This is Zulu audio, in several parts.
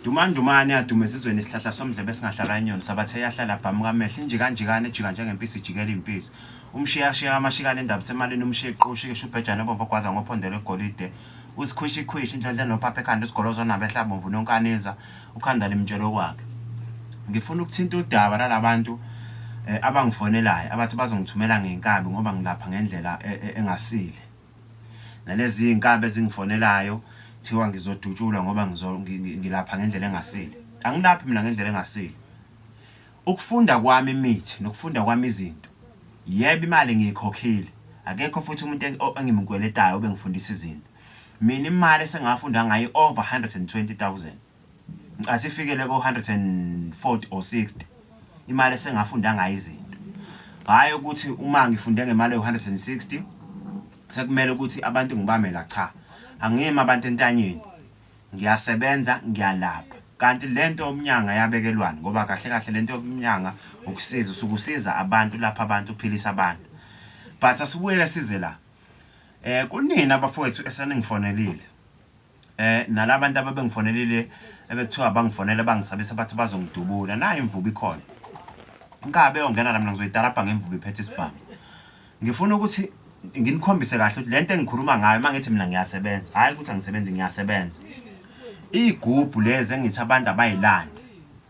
Dumandumane adume ezizweni isihlahla somdlebe esingahlala inyoni sabathe yahlala abhamuka amehlo injikanjikane ejika njengempisi ijikela impisi umshiyashiya amashikane endaba semalini umshiya iqoshi kesho ubhejane obomvu ogwaza ngophondo lwegolide usikhwishikhwishi indlondla nophapha ekhanda usigolozo nabehla bomvu nonkaniza ukhanda limtshelo kwakhe ngifuna ukuthinta udaba lalabantu eh, abangifonelayo abathi bazongithumela ngenkabi ngoba ngilapha ngendlela e, e, engasile Nalezi zinkabi ezingifonelayo kuthiwa ngizodutshulwa ngoba ngizo ngilapha ngendlela engasile. Angilaphi mina ngendlela engasile. Ukufunda kwami imithi nokufunda kwami izinto. Yebo imali ngiyikhokhile. Akekho futhi umuntu engimkweletayo obengifundisa izinto. Mina imali esengafunda ngayo over 120,000. Ngicathi ifikele ko-140 or 60 imali esengafunda ngayo izinto hhayi ukuthi uma ngifunde ngemali ewu-160 sekumele ukuthi abantu ngibamela cha angiyimi abantu entanyeni ngiyasebenza ngiyalapha kanti lento yomnyanga yabekelwani ngoba kahle kahle lento yomnyanga ukusiza usukusiza abantu lapha abantu uphilisa abantu but asibuyele size la eh kunina bafowethu eseningifonelile Eh nalabantu ababengifonelile ebekuthiwa bangifonela bangisabisa bathi bazongidubula nayo imvubu ikhona inkabe yongena la mina ngizoyitalabha ngemvubu iphethe isibhamu ngifuna ukuthi nginikhombise kahle ukuthi lento engikhuluma ngayo mangithi mina ngiyasebenza hayi ukuthi angisebenzi ngiyasebenza igubhu lezi engithi abantu abayilande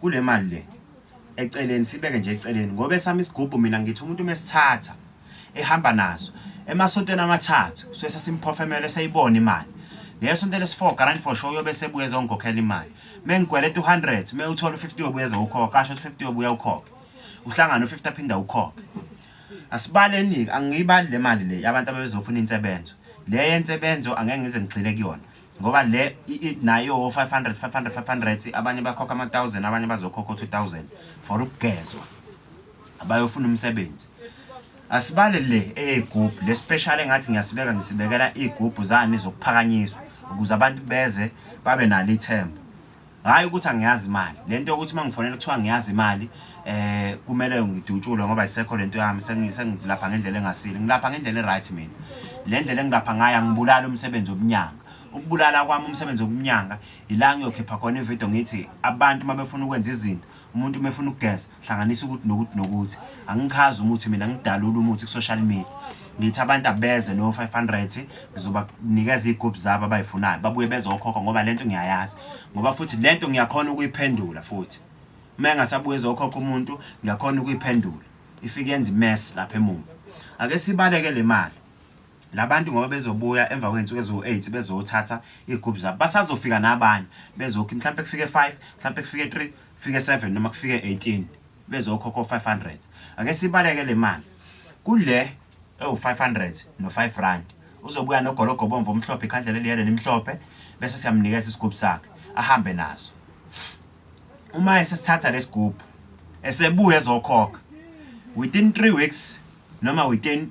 kulemali le eceleni sibeke nje eceleni ngoba esami isigubhu mina ngithi umuntu mesithatha ehamba naso emasontweni amathathu kusuke sesimphofemele seyibona imali ngesonto lesi-4 garant for show uyobe sebuye ezongikhokhela imali mengikweleta u-100 me uthole u-50 yobuye ezowukhokha asho ukuthi 50 yobuye ukhokhe uhlangane u-50 aphinde ukhokhe asibaleni-ke angiyibali le mali le abantu ababezofuna insebenzo le yensebenzo angeke ngize ngigxile kuyona ngoba le nayo 500 500 500 abanye bakhokha ama 1000 abanye bazokhokha 2000 for ukugezwa abayofuna umsebenzi asibale le eyigubhu le special engathi ngiyasibeka ngisibekela igubhu zani zokuphakanyiswa ukuze abantu beze babe nalo ithemba hhayi ukuthi angiyazi imali le nto yokuthi uma ngifonela kuthiwa ngiyazi imali eh kumele ngidutshulwe ngoba isekho lento yami sengilapha ngendlela engasile ngilapha ngendlela eright mina le ndlela engilapha ngayo angibulali umsebenzi wobunyanga ukubulala kwami umsebenzi wobunyanga ila ngiyokhipha khona ividiyo ngithi abantu uma befuna ukwenza izinto umuntu uma efuna ukugeza hlanganisa ukuthi nokuthi nokuthi angichazi umuthi mina ngidalula umuthi ku-social media ngithi abantu abeze no-500 ngizobanikeza iy'gubhu zabo abayifunayo babuye bezokhokha ngoba le nto ngiyayazi ngoba futhi le nto ngiyakhona ukuyiphendula futhi uma engasabuye ezokhokha umuntu ngiyakhona ukuyiphendula ifike yenza imesi lapha emumva ake sibaleke le mali Labantu ngoba bezobuya emva kwey'nsuku eziwu-eight bezothatha iy'gubhu zabo basazofika nabanye bezokhi mhlawumpe kufike five mhlawumpe kufike three kufike seven noma kufike eighteen bezokhokha o-five hundred ake sibaleke le mali kule ewu-five hundred no-five rand uzobuya nogologo bomvu omhlophe ikhandlela eliyele elimhlophe bese siyamnikeza isigubhu sakhe ahambe naso uma esesithatha lesigubhu esebuya ezokhokha within three weeks noma within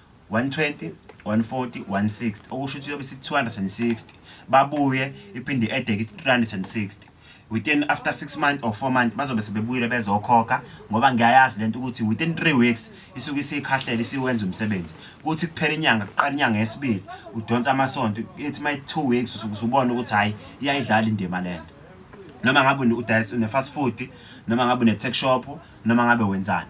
120 140 160 okusho ukuthi yobe isithi 260 babuye iphinde edeke 360 within after 6 months or 4 months bazobe sebebuyile bezokhokha ngoba ngiyayazi lento ukuthi within 3 weeks isuke isikhahlela isiwenza umsebenzi kuthi kuphela inyanga kuqala inyanga yesibili udonsa amasonto ithi my 2 weeks usuke usubona ukuthi hayi iyayidlala indima lento noma ngabe udayisa une fast food noma ngabe une tech shop noma ngabe wenzani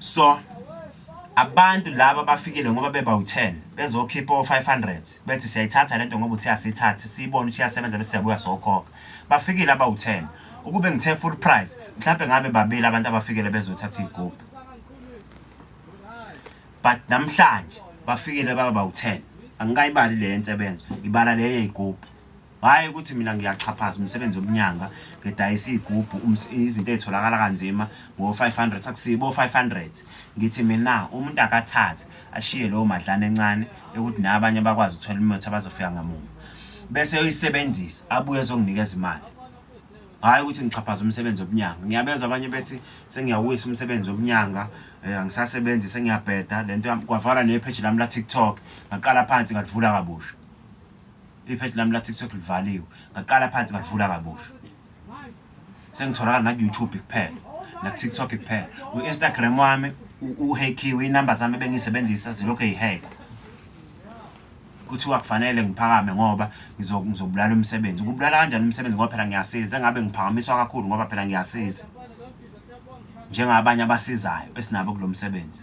So abantu laba bafikile ngoba beba u10 bezokhipha o500 bethi siyayithatha lento ngoba uthi asithathe siyibone ukuthi iyasebenza bese siyabuya sokhokha bafikile aba u10 ukube ngithe full price mhlawumbe ngabe babili abantu abafikile bezothatha igubhu but namhlanje bafikile baba u10 angikayibali le nsebenzo ngibala le yeyigubhu hhayi ukuthi mina ngiyaxhaphaza umsebenzi womnyanga ngidayisa iy'gubhu izinto ey'tholakala kanzima ngo-five hundred akusibo o-five hundred ngithi mina umuntu akathathe ashiye lowo madlana encane ekuthi naye abanye bakwazi ukuthola imithi abazofika ngamuva bese yoyisebenzisa abuye ezonginikeza imali hhayi ukuthi ngixhaphaza umsebenzi wobunyango ngiyabezwa abanye bethi sengiyawuyisa umsebenzi wobunyango um eh, angisasebenzi sengiyabheda le nto kwavala neyepheji lami la-tiktok ngaqala phansi ngalivula kabusha Ipheji lami la-TikTok livaliwe. Ngaqala phansi ngalivula kabusha. Sengitholakala naku-YouTube kuphela, naku-TikTok kuphela. U-Instagram wami uhekhiwe, iy'namba zami ebengiyisebenzisa zilokhu ey'hekwa. Kuthiwa kufanele ngiphakame ngoba ngizobulala umsebenzi. Kubulala kanjani umsebenzi ngoba phela ngiyasiza, engabe ngiphakamiswa kakhulu ngoba phela ngiyasiza. Njengabanye abasizayo esinabo kulo msebenzi.